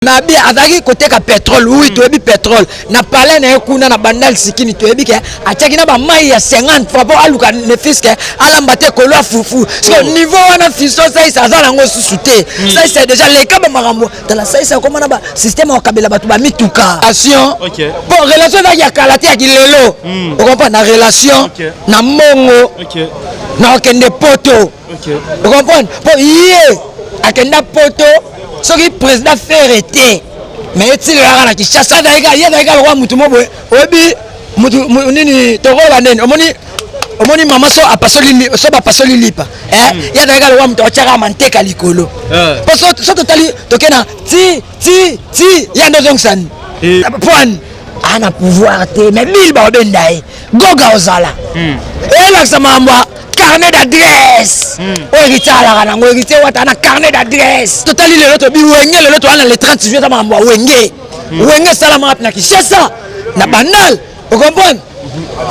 mabe azalaki koteka petrole wi hmm. toyebi petrole na palais na ye kuna na bandal sikini toyebi ke atiaki na bamai ya 50 fois mpo aluka nefiske alamba te kolo ya fufu so oh. niveau wana fiso saisa aza nango susu te hmm. saisa deja leka bamakambo tala saisa akoma na basysteme akabela bato bamituka ation mpo relation ezalaki ya kala te ya kilelo hmm. okompa na relation na mbongo na okende poto okomprendre mpo ye akenda poto soki président fere te me etilelaka na kinshasa ye azalika lokola motu mo boye oyebi nini tokola nini omoni omoni mama so apasoli so bapasoli lipa eh, hmm. ye azalika lokola motu atyaka manteka likolo eh. mpo so totali toke na ti ti ti ye nde ozongisani eh. poine ana pouvoir te mais bill baobenda ye goga ozala hmm. elakisa makambo ya carnet d'adresse hmm. oyo héritier alaka nango héritier wata na carnet d'adresse totali lelo tobi wenge lelo toya na le 30 juillet ta makambo ya wenge hmm. wenge esalamaka mpe na kinshasa na banal okomprendre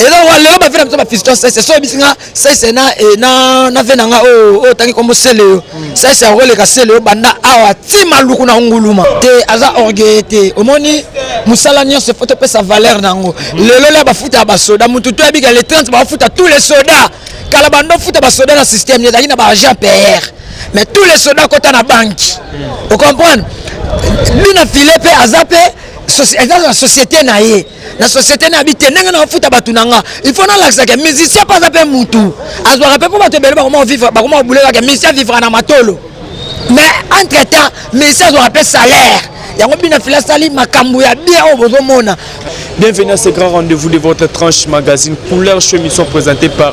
eloko lelo bavina biso bafisto sese so yebisi nga sese na e, na na vena nga o o tangi kombo sele yo mm. sese akoleka sele yo banda awa ti maluku na nguluma te aza orgueil te omoni musala nyonso faut topesa valeur na yango mm. lelo la bafuta ya basoda mutu to yabika le 30 bafuta tous les soda kala bando futa basoda na système ezalaki na baagent pr mais tous les soda kota na banki mm. ocomprendre bina file mpe aza mpe eza na société na ye na société na yabi te ndenge na bafuta bato na nga il faut nalakisa ke musicien mpe aza mpe mutu azwaka mpe mpo bato ebele bakoma vivre bakoma kobuleka ke musicien avivra na matolo mais entre temps musicien azwaka mpe salaire yango bino fila asali makambo ya bien oyo bozomona Bienvenue à ce grand rendez-vous de votre tranche magazine couleur show émission présentée par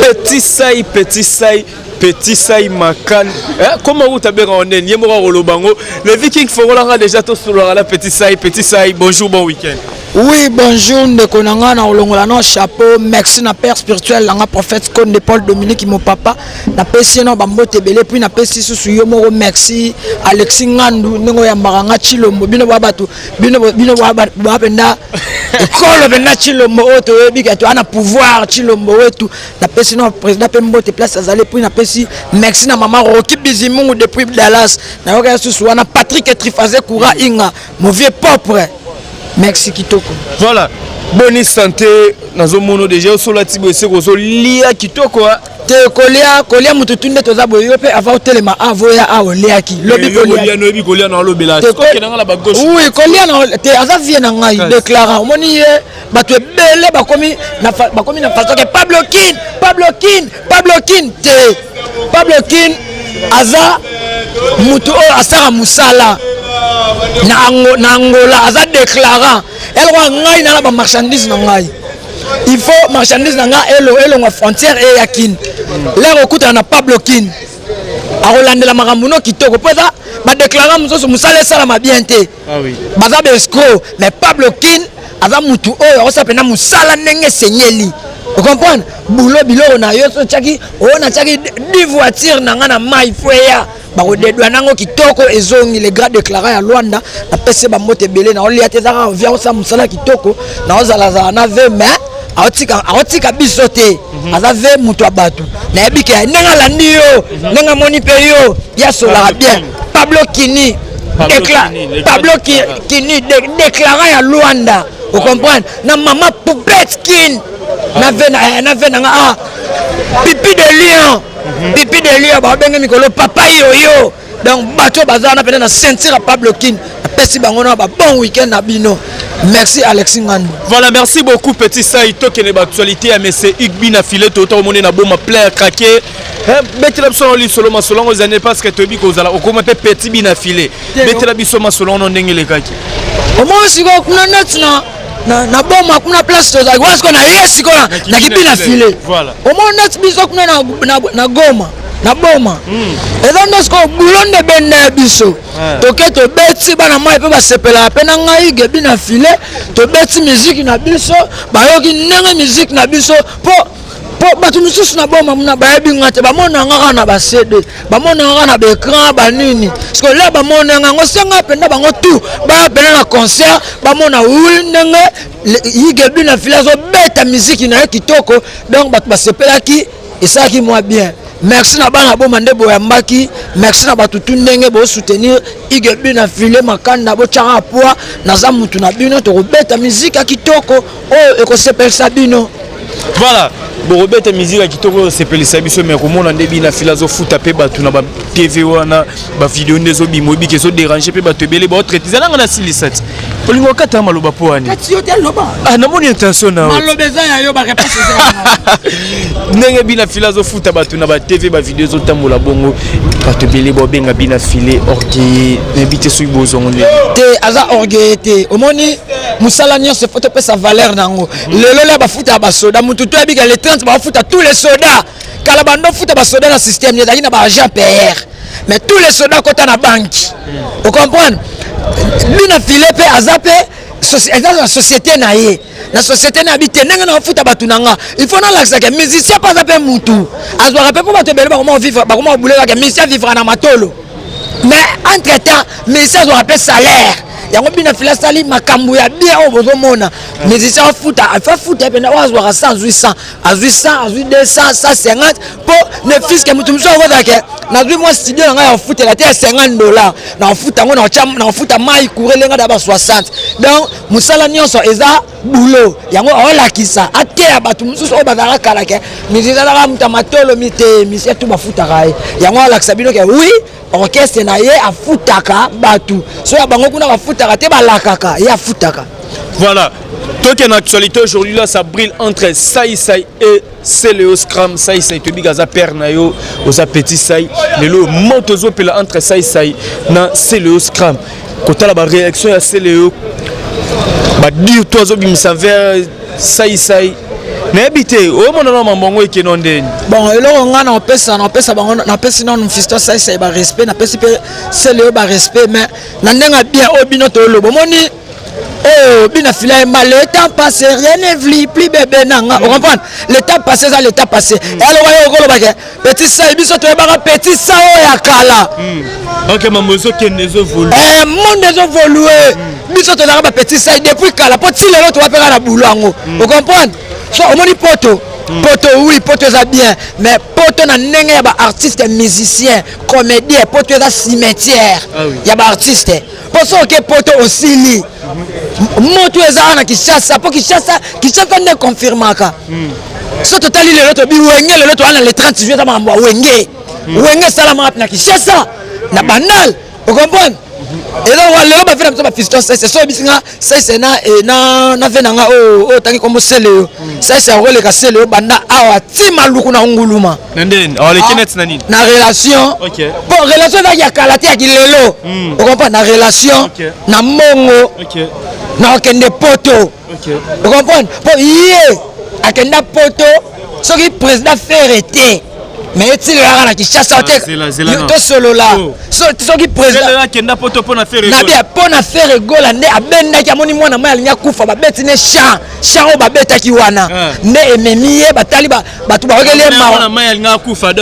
Petit sai, petit sai, petit sai makan. Eh, comment vous t'avez rendu N'y mora rolobango. Le viking forolanga déjà tout sur la petit sai, petit sai. Bonjour, bon week-end. Oui, bonjour, ndeko na nga na olongola no chapeau. Merci na père spirituel na nga prophète Konde Paul Dominique mon papa. Na pesi na bambote belé puis na pesi susu yo moko merci. Alexis Ngandu ndeko ya maranga Chilombo bino ba batu bino bino ba penda ekolo penda chilombo oyo toyebi kati wana pouvoir chilombo wetu napesi na président mpe mbote place azali puis napesi merci na mama roki bizimungu depuis dallas nayoka ya susu wana patrick etrifaze coura inga mauvie propre merci kitoko voilà boni santé nazomona deja osolati boye se kozolia kitoko te kolia kolia moto tu nde toza boye yo mpe ava otelema ava oya a oliaki lobi kolia na te aza vie na ngai declara omoni ye bato ebele bakomi na fasoke pablo kin pablo kin pablo kin te pablo kin aza moto oyo asala mosala na angola aza declarant eloko ngai nana bamarchandise na ngai il faut marchandise na nga elongwa frontière eya kin lere okutana na pablo kin akolandela makambo no kitoko mpo eza badeklarant mosusu mosala esalama bien te ah baza baescro mais pablo kin aza motu oyo akosa mpena mosala ndenge esenyeli okomprendre bulo biloko na yo so otyaki oyo natyaki divoitire na ngai na mai fo eya bakodedwa nango kitoko ezongi le grand declara ya luanda napesi bambote ebele naolia te ezaka ovia osala mosala kitoko naozalazala na ve mais aotika biso te mhm. aza ve moto ya bato nayebi ke ndenge alandi yo mhm. ndenge amoni mpe yo yasolaka bien pablo kini pablo kini declara ya luanda ocomprendre na mama poupette kin na ve na nga ah pipi de lion mhm. pipi de lia babenge mikolo papa yoyo donc bato baza wana mpena na ceinture ya pablo kin apesi bango na babon week-end na bino merci alexi ngandu voilà merci beaucoup petit sai tokende baactualité ya mese igbi na filet tota omoni na boma plein ya krake betela biso na lisolo masolo yango ezali parce que toyebi kozala okoma mpe petit bi na filet betela biso masolo yango ndenge elekaki omoni sikoyo kuna neti na na na boma kuna place tozali wana sikoyo na ye sikoyo na kibi na file omoni neti biso kuna na goma na boma hmm. eza nde sikoyo bulo nde benda ya biso eh. toke tobeti bana mai mpe basepelaka mpe na ngai gebi na file tobeti miziki na biso bayoki ndenge miziki na biso mpo mpo bato mosusu na boma muna bayebi nga te bamona nga kaka na bacd bamona nga kaka na baecran banini sikoyo lia bamona nga yango senga mpenza bango tu baya mpena na concert bamona wi ndenge yigebi na fili azobeta miziki na ye kitoko donc bato basepelaki esalaki mwa bien merci na bana boma nde boyambaki merci na bato tu ndenge bosoutenir igebi na file makanda botyaka poids naza mutu na bino tokobeta miziki ya kitoko oyo ekosepelisa bino voilà bokobeta miziki ya kitoko osepelisa biso me komona nde bina fila azofuta mpe bato na batv wana bavideo nde ezobima oyebiki ezoderange mpe bato ebele baotraite eza nanga nasilisa ti olingi okata maloba mpo wani ah, namoni intention na ndenge bina fila azofuta bato na batv bavideo ezotambola bongo bato ebele baobenga bina file orgueille nayebi te soki bozongo nde te aza orgueille te omoni musala nyonso faut topesa valeur na yango lelo lya bafuta ya basoda motu to yabika le 30 bafuta tous les soda kala bando futa basoda na système ezalaki na baagent pr mais tous les soda kota na banki ocomprendre bina file mpe aza mpe eza na société na ye na société na yabi te ndenge na bafuta bato na nga il faut nalakisaka musicien mpe aza mpe mutu azwaka mpe mpo bato ebele bakoma kobulelaka musicien vivra na matolo mais entre temps musicien azwaka mpe salaire yango bino afila asali makambo ya bien oyo bozomona musicien afuta afa futa ye mpena oyo azwaka 100 azwi 100 azwi 100 azwi 200 150 mpo ne fiske moto mosusu akozala ke nazwi mwa studio na ngai ya kofutela te ya 50 dollar na kofuta yango na kofuta mai kurele ngai na ba 60 donc mosala nyonso eza boulot yango olakisa ateya bato mosusu oyo bazalaka kala ke mizalaka moto ya matolo mite misie tu bafutaka ye yango alakisa bino ke wi orchestre na ye afutaka bato so ya bango kuna bafutaka te balakaka ye afutaka voilà toke na actualité aujourd'hui là ça brille entre sai sai et Celeo Scram Sai Sai toyebi ke aza père na yo oza petit Sai lelo moto ezopela entre Sai Sai na Celeo Scram kotala baréaction ya Celeo badire to azobimisa vers Sai Sai nayebi te omona na mambongo ekeno ndeni bon eloko ngai napesa napesa bango napesi nano fisto Sai Sai barespect napesi mpe Celeo barespect mais na ndenge ya bien oyo bino toloba omoni Oh, bina sila ma le temps passé rien ne vli plus bébé nanga mm. comprendre le temps passé eza le temps passé mm. elo wayo okolo bake petit sa biso to yebaka petit sa o ya kala mm. ok mambo zo kende zo volu eh monde zo volu mm. biso to nanga ba petit sa depuis kala po ti lelo to wapeka na boulot yango mm. o comprendre so omoni poto mm. poto oui poto eza bien mais poto na ndenge ya ba artiste musicien comédien poto eza cimetière ah, oui. ya ba artiste mpo soki oke poto osili moto eza wana na kinshasa mpo kinshasa kinshasa nde confirmaka hmm. so totali lelo tobi wenge lelo towana le 30 juillet eza makambo ya wenge hmm. wenge esalama wapi na kinshasa na hmm. banal okomprendre eloko lelo bafe na biso bafisto sese so oyebisi nga sese na eh, ve na nga oyo oh, oh, otangi kombo sele yo sese akoleka sele yo banda awa ti maluku na nguluma na ndeni ah, oleki ah, neti na nini na relation okay. bon relation ezalaki ya kala te ya kilelo mm. okompa na relation okay. na mbongo okay. na okende poto okay. okomprendre mpo ye akenda poto soki président fere te mais etilelaka na kinshasa te ah, tosolola oh. soki présidentnabe mpo na fere gola nde abendaki amoni mwana mai alingi akufa babeti ne champ champ oyo babetaki wana ah. nde ememi ye batali bato bakokeli mwana mai alingaka kufa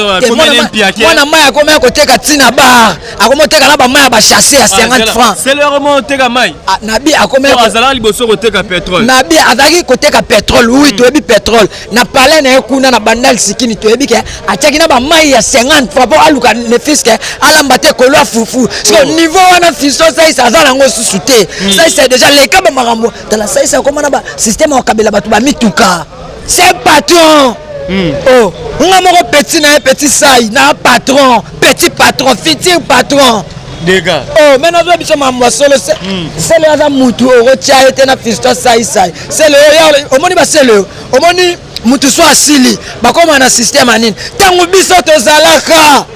mwana mai akomaya koteka ntina bar akomi oteka na bamai ya bachasse ya 50 ah, franc ah, nabi akomiazalaki liboso koteka petrole nabi azalaki koteka petrole wi hmm. toyebi petrole na palais na ye kuna na bandal sikini toyebi ke atiaki na bamai ya 50 franc mpo aluka nefiske alamba te kolo ya fufu siko oh. niveau wana fiso saisa aza nango susu te hmm. saisa deja leka bamakambo tala saisa akoma na basysteme ya kokabela bato bamituka C'est patron. Mm. Oh, nga moko petit na petit sai na patron, petit patron, futur patron. Dega. Oh, mais nazo biso mamwa solo se. Mm. C'est le aza mutu oro tia ete na fisto sai sai. C'est le yo omoni ba c'est le omoni mutu so asili bakoma na système anini. Tango biso tozalaka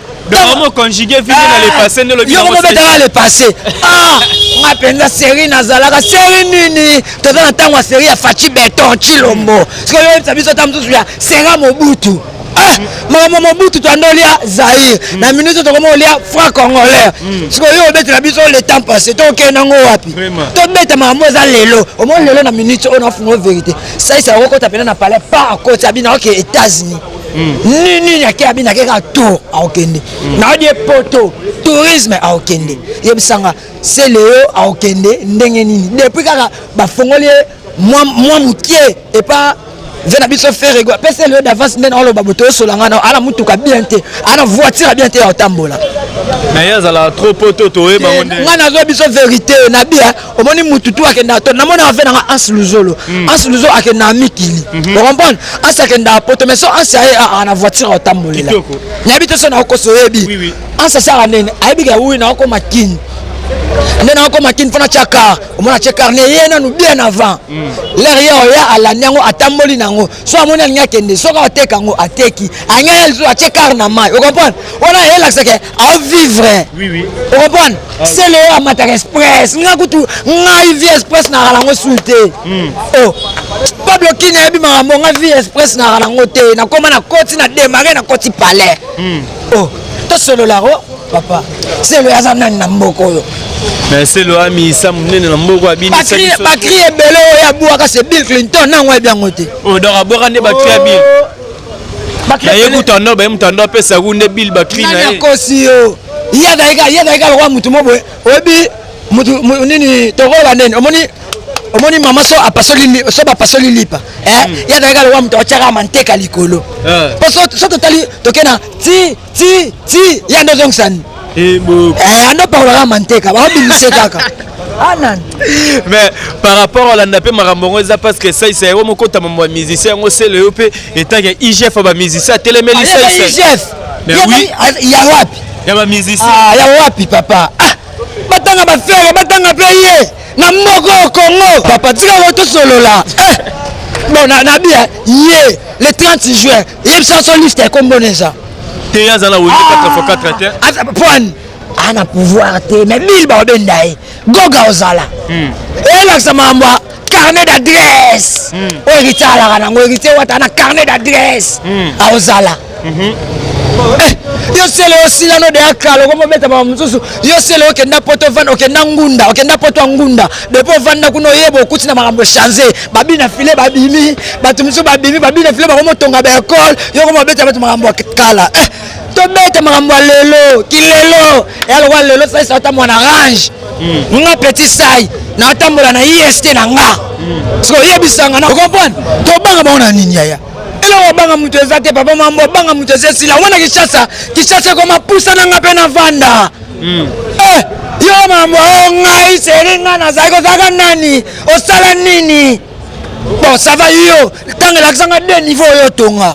Homo conjugué vivre dans le passé nde lobi. Yo ko betaka le passé. Ah, nga penza série nazalaka série nini? Toza na tango ya série ya Fachi Beton Chilombo. Siko yo yebisa biso ta mususu ya Senga Mobutu. Ah, makambo mobutu toanda olia zaire mm. na minute tokoma olia franc congolais mm. sikoyo yo obetela biso le temps passé tokende yango wapi tobeta makambo eza lelo omoni lelo na minute oyo nafungo verité saisa okokota mpena na palais pa akoti abina oke états-unis nini nake abi nake kaka tour aokende naodi ye poto tourisme aokende yebisanga se leo aokende ndenge nini depuis kaka bafongoli ye mwa moke epa nze na biso ferego apesi elio davance nde naoloba boto osola ngai ana motuka bien te ana voiture ya bien te ya kotambola naye azala trop poto toyebango nde ngai nazwa biso verité na bia omoni mutu tu akendaka to namonaka mpe nanga anse luzolo hmm. anse luzolo akendaka mikili mhm. ocomprendre anse akendaka poto mais so anse aye aa na voiture aotambolela nayebi te so naokosa oyebi anse asaka nene ayebi ke wi naokoma kini nde nakokoma kini mpo natya kar omona atye kar ne ye nanu bien avant hmm. lere ye oya alandi yango atamboli na yango so amoni alingi akende soki ateka yango ateki anyaya lisusu atie kar na mai ocomprendre wana elakisake avivre ocomprendre ah. sele oyo amataka express nga kutu ngai vie express naka nango sui te o hmm. oh. pablo kini ayebi makambo nga vie express naka nango te nakoma na koti na demare na koti palais hmm. o oh. tosololako papa selo aza nani na mboka oyo mais selo amiyisa monene na mboka abinibatri ebele oyo abwaka se bill clinton nango ayebi yango te oh, donc abwaka nde batri ya bill oh. naye mutando baye mutando apesa ku nde bill batri naye akosi yo ye azalika lokola motu mo boye oyebi mutu nini tokola nini omoni omoni mama so apasoli so bapasoli lipa eh? hmm. ye azalika lokola moto atyaka manteka likolo eh. po so totali toke na ti ti ti ya ndo zongisani eh, eh, ando pakolaka manteka baobimise kaka anan mais par rapport olanda mpe makambo yango eza parce que saisa yango mokota mambo ya musicien yango sele yo mpe etanke igf ya bamusicien atelemeli saisa ya wapi ya bamusicien ah, ya wapi papa ah, batanga bafere batanga mpe ye na moko ya congo papa tika ngo tosolola eh, bon na, na bia ye le 30 juin yebisa so liste ya kombo na eza te aza na wenge 4x4 te aza poine aza na pouvoir te mais bili baobenda ye goga ozala hmm. elakisa makambo ya carnet d'adresse hmm. oyo héritier alaka nango héritier wata na carnet d'adresse hmm. aozala mhm. eh, yo sele osilano deya kala okomobeta makambo mosusu yo sele okenda poto vanda okenda ngunda okenda poto ya ngunda depo ovanda kuna oyeba okuti na makambo echange babi na file babimi bato mosusu babimi babi na file bakomotonga baekole yoko mabeta bato makambo ya kala eh, tobeta makambo ya lelo kilelo ya lokola lelo salisa ata mwana range hmm. nga petit sai natambola na ist na nga hmm. siko oyebisanga na okomprendre tobanga bango na nini yaya eloko obanga moto eza te papa mambo obanga moto eza esila wana kishasa kishasa ekoma pusa na nga mpe na vanda mm. eh, yo mambo oh, ngai seri ngai nazali kozalaka nani osala nini bon ça va yo ntango elakisa ngai de niveau oyo otonga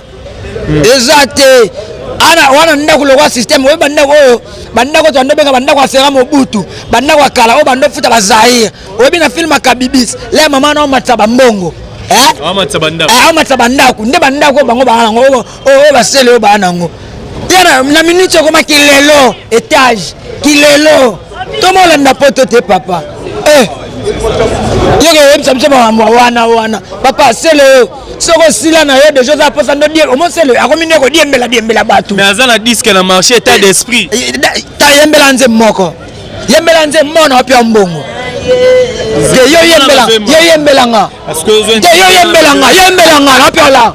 mm. eza te ana wana ndako lokwa systeme oyo bandako oyo bandako to benga bandako ya fera mobutu bandako ya kala oyo bando futa bazaire oyebi na filme akabibis le mama na omatisa bambongo eh? amatisa bandako eh, nde bandako bango baa yango oyo basele oyo baa nango tena na minute okoma kilelo etage kilelo toma olanda poto te papa eh. yeke oyebisa biso makambo wana wana papa sele oyo soki osila na yo deja oza posa ndo omosele akomi nde kodiembela diembela bato mais aza na diske na marché etat d'esprit eh, eh, ta yembela nze moko yembela nze mona opia mbongo te yo yembela yo yembelanga te yo yembelanga yembelanga napiola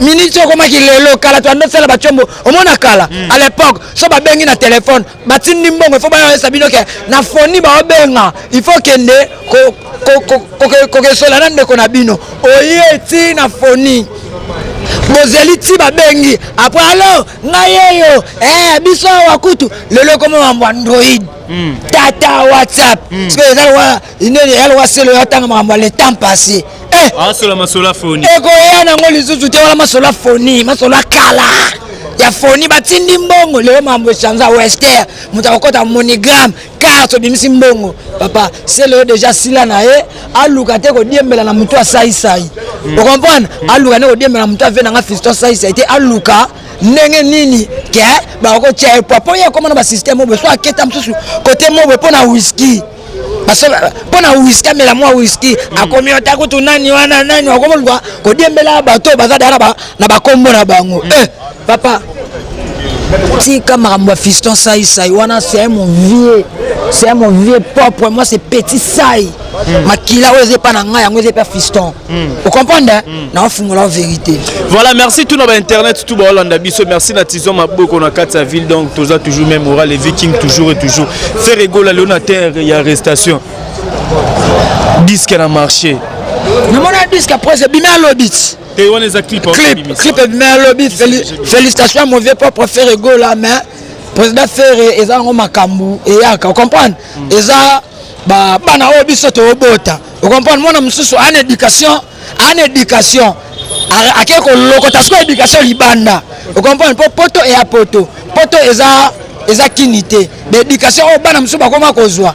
ministre okomaki lelo kala to andosala bacombo omona kala mm. à l'époque so babengi na telefone batindi mbongo ifo bayesa bino ke na foni baobenga il faut kende kokesola na ndeko na bino oye ti na foni bozeli ti babengi apres alo ngai yeyo eh, biso awa kutu lelo ekoma mambo android mm. tata whatsapp mm. sikoyo eza inene ya loka selo ya tanga makambo ya le temps passé eh! asola masolo ya foni ekoya nango lisusu te wana masolo ya foni masolo ya kala ya foni batindi mbongo lelo makambo echange wester moto akokota monigramme carte obimisi mbongo papa selo yo deja sila na ye aluka te kodiembela na motu asaisai hmm. okomprendre aluka nde kodiembela na motu ave nanga fiston asaisai te aluka ndenge nini ke bakotia ye pwa mpo ye akoma na basysteme oboye so aketa mosusu kote moboye mpo na wiski mpo na wiski amela mwa wiski hmm. akomi ota kutu nani wana nani akomoluka kodiembela bato baza daka na bakombo na bango hmm. eh, papa tika makambo ya fiston sai sai wana c'est mon vieux c'est mon vieux propre moi c'est petit sai hmm. makila oyo eza epa na ngai yango eza epa fiston Mm. Vous comprenez hein? mm. Na fungola vérité. Voilà, merci tout nos internet tout ba Hollande biso. Merci na Tison Maboko na kati ya ville donc toza toujours même oral les vikings toujours et toujours. Faire egola le terre ya arrestation. Disque na marché. Na mona disque après c'est bimé lobit. Et on les a clip clip clip bimé lobit. Félicitations à mon vieux propre Ferre Egola mais président Ferre eza ngo makambu et yaka. Vous comprenez? Mm. Eza ba bana oyo biso to bota. okomprendre mwana mosusu ana éducation ana éducation ake kolokota sikoyo éducation libanda okomprendre mpo poto eya poto poto eza eza kini te baéducation oyo bana mosusu bakoma kozwa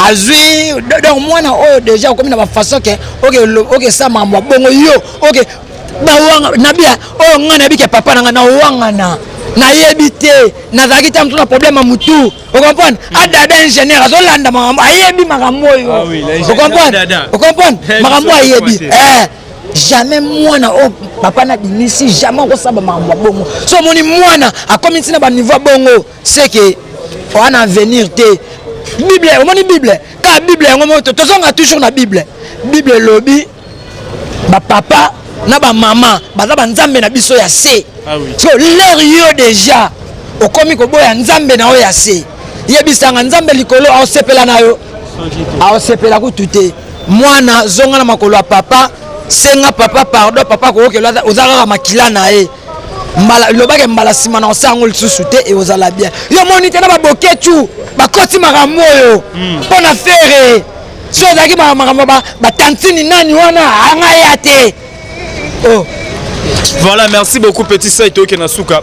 azwi donc mwana oyo deja okomi na bafaçon ke okesa makambo ya bongo yo oke bawanga nabia oyo ngai nayebi ke papa na ngai nawangana nayebi te nazalaki ntango tuna problème ya motu okomprendre adada ingénieur azolanda makambo ayebi makambo oyo ah okomprendre okomprendre makambo ayebi eh, jamais mwana oyo oh, papa na binisi jamais okosaba makambo ya bongo so omoni mwana akomi ntina baniveau ya bongo seke oa na avenir te bible omoni bible kaka bible yango moko tozonga toujours na bible bible elobi bapapa na bamama baza banzambe na biso ya se ah so lere yo deja okomi koboya nzambe na yo ya se yebisanga nzambe likolo aosepela na yo aosepela kutu te mwana zonga na makolo ya papa senga papa pardon papa kookela oza kaka makila na ye mbala lobake mbala nsima na osa yango lisusu te eozala bien yo moni te na baboketu bakoti makambo oyo hmm. mpo na fere so ezalaki makambo batantini nani wana anga ya te oh. voilà merci beaucoup petit sai toyoke na suka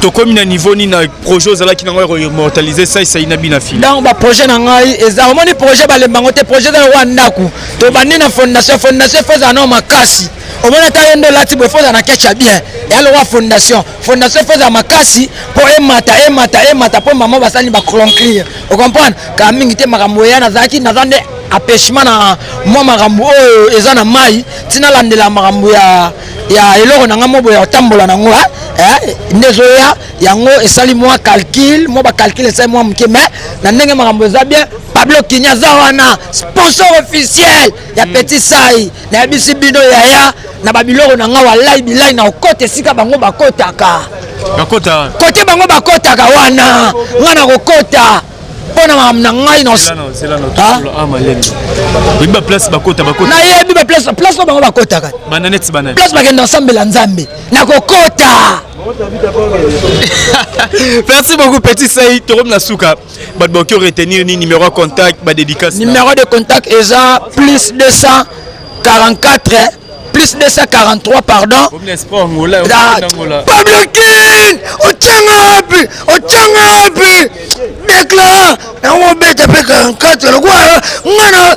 tokomi na niveau nini na projet ozalaki na ngai koimmortalise saisai na bina fili donc baprojet na ngai eza omoni projet balemba yango te projet eza lokola ndako tobandi na fondation fondation fo ezala nao makasi omoni ata ye nde olati boye fo ozala na kecha bien eya lokola fondation fondation mpe ezala makasi mpo emata emata emata mpo mama basani baconclure ocomprendre kala mingi te makambo eya nazalaki naza nde apeshema na mwa makambo oyo eza na mai ntina alandela makambo ya ya eloko na ngai mobo ya kotambola nango eh, nde ezoya yango esali mwa calcul mwa bacalcul esali mwa moke mai na ndenge makambo eza bien pablo kini aza wana sponsor officiel ya petit sai nayebisi bino yaya na babiloko na ngai walai bilai na okota esika bango bakotaka bakota kote bango bakotaka wana ngai nakokota mpo na makambo na ngai nayebi baplace oyo bango bakotaka place bakenda nsambela nzambe nakokota merci beaucoup petit sai tokomi na suka bato bakoki ko retenir ni numéro ya contact ba dédicace numéro de contact eza plus 244 plus 243 pardon ah, pablo kin ocanga wapi ocanga wapi dekla yango obeta mpe 44 lokola ngana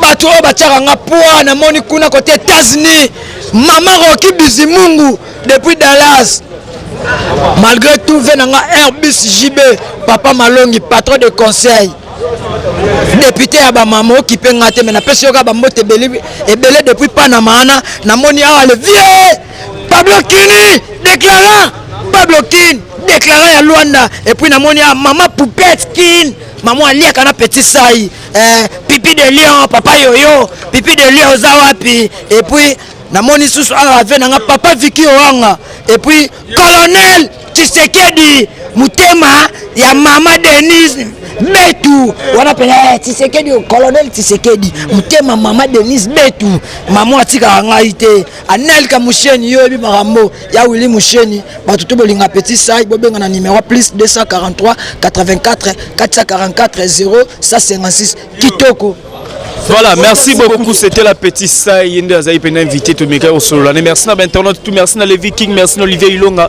bato oyo batiaka nga poa namoni kuna kote etats-unis mama roki bizimungu depuis dallas malgré tout ve na nga airbus jb papa malongi patron de conseil depute ya bamama okipe nga te me napesi yoka bambote ebele depuis panama ana namoni awa le vieux pablo kini déclarant pablo kin déclarant ya luanda epuis namoni awa mama poupette kin mama aliaka na petit sai eh, pipi de lion papa yoyo pipi de lion oza wapi epuis namoni susu awa ave na nga papa viki owanga epuis colonel tshisekedi motema ya mama denise betu wana mpenza eh, tshisekedi colonel tshisekedi motema mama denise betu mama atikaka ngai te Anelka Musheni yo yebi makambo ya Willy Musheni bato to bolinga petit sai bobenga na numero plus 243 84 444 0 156 kitoko Voilà, merci beaucoup. C'était la petite Saï Yende Azaï Pena invité. Tout le monde est au solo. Merci à l'internaute. Tout merci à Levi King. Merci à Olivier Ilonga.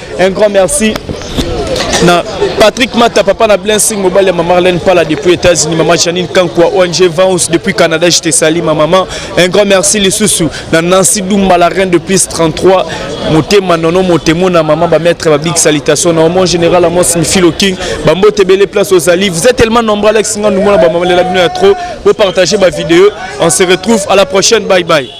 Un grand merci na Patrick Mata, papa na Blessing, mobile ya maman Marlène Pala depuis États-Unis, maman Janine Kankwa, ONG Vance depuis Canada, je te salue ma maman. Un grand merci les sous na Nancy Dumba la reine de plus 33, motema nono motemo na maman ba maître ba big salutation na mon général Amos Mifilo King, ba mbote belle place aux Ali. Vous êtes tellement nombreux Alex Ngandou mona ba maman la bino ya trop. Vous partagez ma vidéo. On se retrouve à la prochaine. Bye bye.